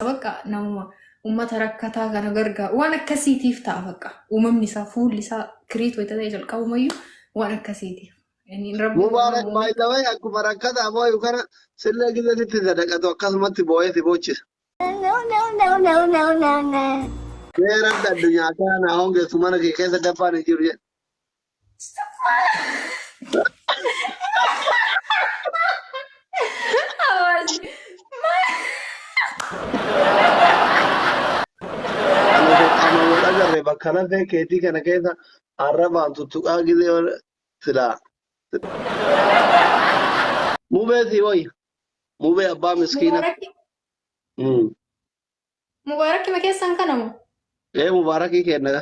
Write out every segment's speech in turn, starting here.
bakka namuma ummata rakkataa kana gargaaru waan akkasiitiif ta'a bakka uumamni isaa fuulli isaa kiriit wayita ta'e jalqabumayyuu waan akkasiitiif. Inni rabbi waan Mubaarak uume baay'ee akkuma rakkataa booyu kana sillee gizatitti sadaqatu akkasumatti booyee si boochisa. Seeratti addunyaa kana hongeessu mana kee keessa dabbaan hin jiru jedhe. Ana wal agarre bakka lafee keetii kana keessa arrabaan tuttuqaa gizee wal silaa. Mubee si wayya. Mubee abbaa miskiina. Mm. Mubaarakki ma keessan kanamu? Ee mubaarakii kenna.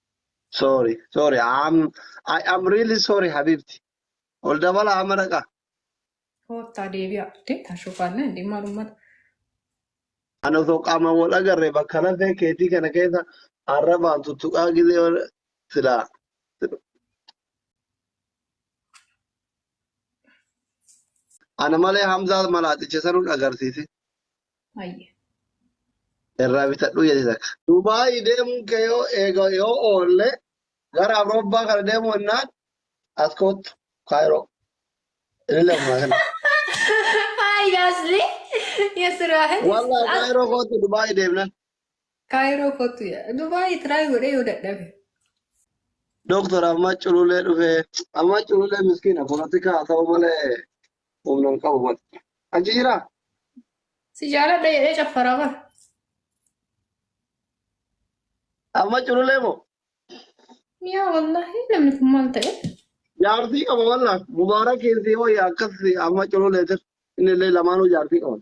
Sorry, sorry. I'm, I am really sorry, Habibti. Ol dabala amma dhaqa. Koottaa deebi'aa. Deemtaa shufaallee hin dhimma uummata. Ani osoo qaamaan wal agarre bakka lafee keetii kana keessa arrabaan tuttuqaa gizee wal- silaa. Ana malee Hamzaa malaaticha sanuun agarsiise. Hayyee. Irraa bitadhuu jedhe takka. Dubaayii deemuun kee yoo eega yoo oolle gara Awurooppaa kana deemuu hennaan as koottu Kaayiroo. Inni lafumaa kana. Hayi asli yasira hin Wallah Kaayiroo koottu Dubaayii deemnan. Kaayiroo kottu ya Dubaay tiraay godhee yoo dadhabe. Doktor amma cululee dhufee amma cululee miskiina polotikaa haa ta'u malee Humna hin qabu bar. Achi jiraa? Si jaaladha jedhee caffaraa bar. Amma cululee moo? Yaa wallahi namni kun maal ta'e? Jaartii qaba wallah. Mubaarak keessi hoo yaa akkas amma cululee tir. Inni illee lamaanuu jaartii qaban.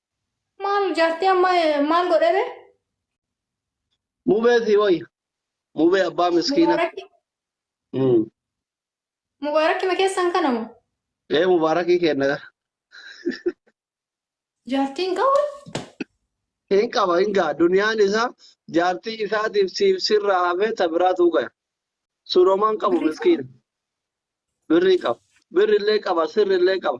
Maal jaartii amma maal godhebe? Mubee si wayya. Mubee abbaa miskiina. Mubaarakki Mm. mubaarakki ma keessan kana moo? Ee mubaarakii kenna gara. Jaartiin qabu Hin qaba hin gaa duniyaan isaa jaartii isaatiif siif sirraa hafee ta biraa tuuqaya. Suroomaan qabu miskiina. Birrii qaba. Birri illee qaba sirri illee qaba.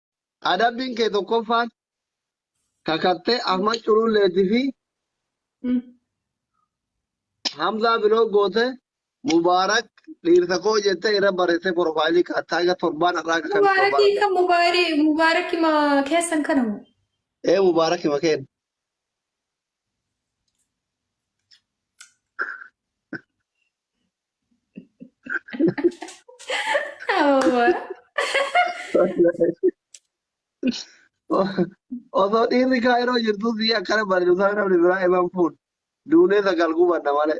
Adabbiin kee tokkoffaan kakattee Ahmad Cululleetii fi Mm. Hamzaa biloo goote Mubaarak dhiirsa koo jettee irra barreessee porofaayilii kaatte haga torbaan har'aa akka kan Mubaarakii Mubaarak. kan mubaarii mubaarakii ma keessan kana moo? Ee Mubaarak hima kenna. Osoo dhiirri kaayiroo jirtu si akkana barreessaa namni biraa himan fuun duunee sagal gubanna malee.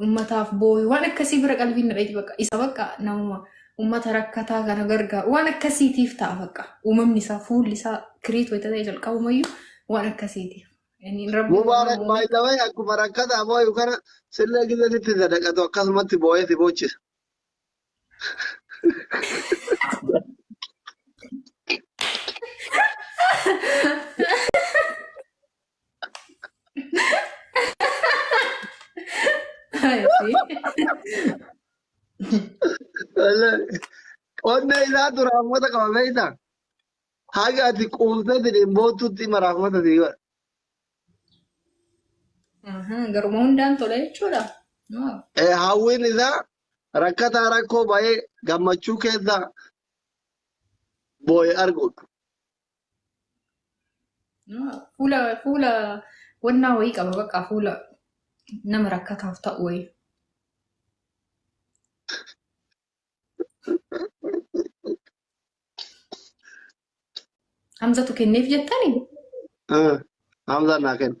Uummataaf booyu waan akkasii bira qalbiin nadheeti bakka isa bakka namuma uummata rakkataa kana gargaaru waan akkasiitiif ta'a bakka uumamni isaa fuulli isaa kiriit wayita ta'e jalqabumayyuu waan akkasiitiif. Inni Rabbi waan Mubaarak uume baay'ee akkuma rakkataa booyu kana sillee gidda sitti sadaqatu akkasumatti booyee si boochisa. Qonna isaa dura hamoota qaba beektaa? Haga ati quuftee jedheen boottuutti mara hamoota si godha. Garuma hundaan tola jechuudha. Hawwiin isaa rakkataa rakkoo ba'ee gammachuu keessa boo'e arguudha. Fuula fuula wannaa wayii qaba bakka fuula nama rakkataaf ta'u wayii. Hamzatu kenneef jettani? Hamzaan naa kenna.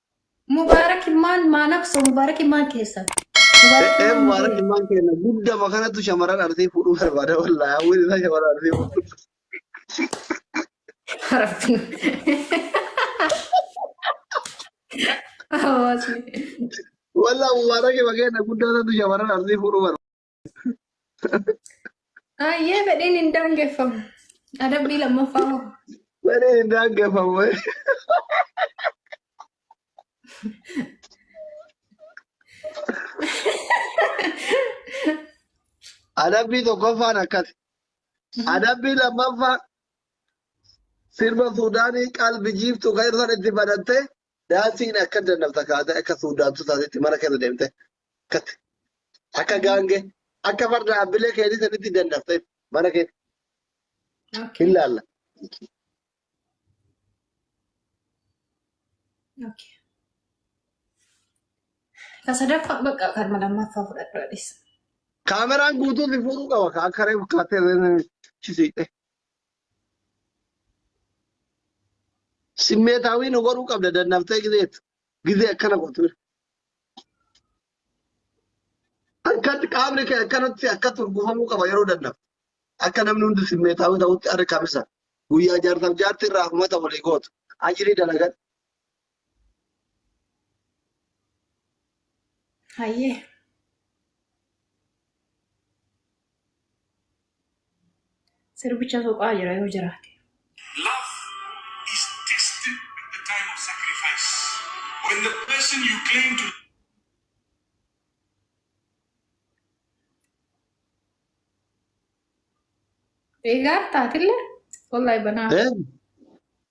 Mubarak ilmaan maa naqso mubarak ilmaan keessan. Mubarak Ee ilmaan mubaarak mubarak. ilmaan keenya guddama kanatu shamarran arsii fuudhuu barbaada wallaahi hawwiin isaa shamarran arsii fuudhuu. Rabbi. Hawaasni. Wallaahi mubaarak ilma keenya guddaa sanatu shamarran arsii fuudhuu barbaada. Ayyee fedhiin hin daangeffamu. Adabbii lammaffaa hoo? Wani hin daangeffamu. Adabbii tokkoffaan akkas. Adabbii lammaffaa sirba Suudaanii qalbi jiiftu kan irra itti banattee Daansiin akka dandamta kaate akka suudaantu taasitti mana keessa deemte katte. Akka gaangee akka farda abbilee keetii sanitti dandamte mana keessa hin Okay. laalla. Okay. Ka sadaffaa bakka kan lammaffaa fudhadhu adis. Kaameraan guutuu si fuudhuu qaba ka akka reefu kaatee chisiidhe. Simmeetaawii nu godhuu qabda dandaftee gizeet. Gizee akkana gootu. Akkatti qaamni kee akkanatti akkatti urgufamuu qaba yeroo dandaf. Akka namni hundi simmeetaawii ta'utti arri kamisa. Guyyaa jaarsaaf jaartii irraa hafumata walii gootu. Ajirii dalagan. Hayyee. Sirbicha tuqaa jira yoo jiraate. Love is tested at the time of sacrifice. When the person you claim to Egaa taatille wallahi banaa. Eh,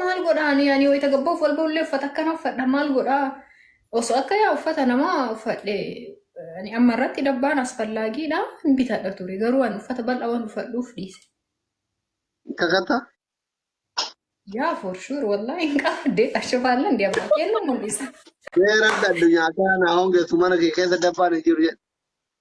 maal godha ani ani wayita gabbaa of walba ullee uffata akkana uffadha maal godha osoo akka yaa uffata namaa uffadhe ani amma irratti dabbaan asfallaagiidha hin bitadha ture garuu ani uffata bal'aa waan uffadhuuf dhiise kakata yaa for sure wallaahi hin qaba deeta shufaallan deemaa kennu mul'isa. mee rabbi addunyaa kana hongeessu mana kee keessa dabbaan hin jiru jedhe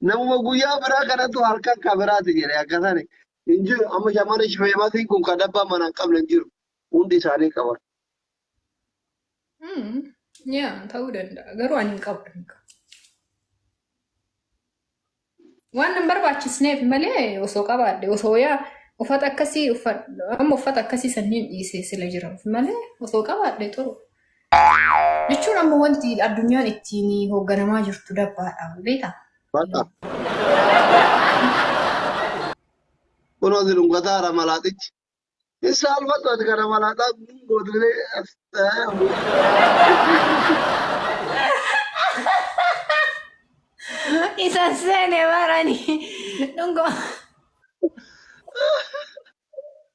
Namuma guyyaa biraa kanatu halkan ka biraati jedhe akka sani hin jiru. Amma shamarri feemasiin kun kan abbaa mana hin qabne hin jiru. Hundi isaanii qaban. Hmm. Yaa ta'uu danda'a. Garuu ani hin qabu. hin qabu. Waan hin barbaachisneef malee osoo qabaadhe osoo yaa uffata akkasii uffadhu amma uffata akkasii sanniin dhiisee sila jiraaf malee osoo qabaadhe turu. Jechuun amma wanti addunyaan ittiin hoogganamaa jirtu dabbaadha. Beektaa? Baqa. Kunoo si dhungataara malaaxichi. Hin saalfattu ati kana malaaxaa gootulee. Isa seene barani. Dhungoo.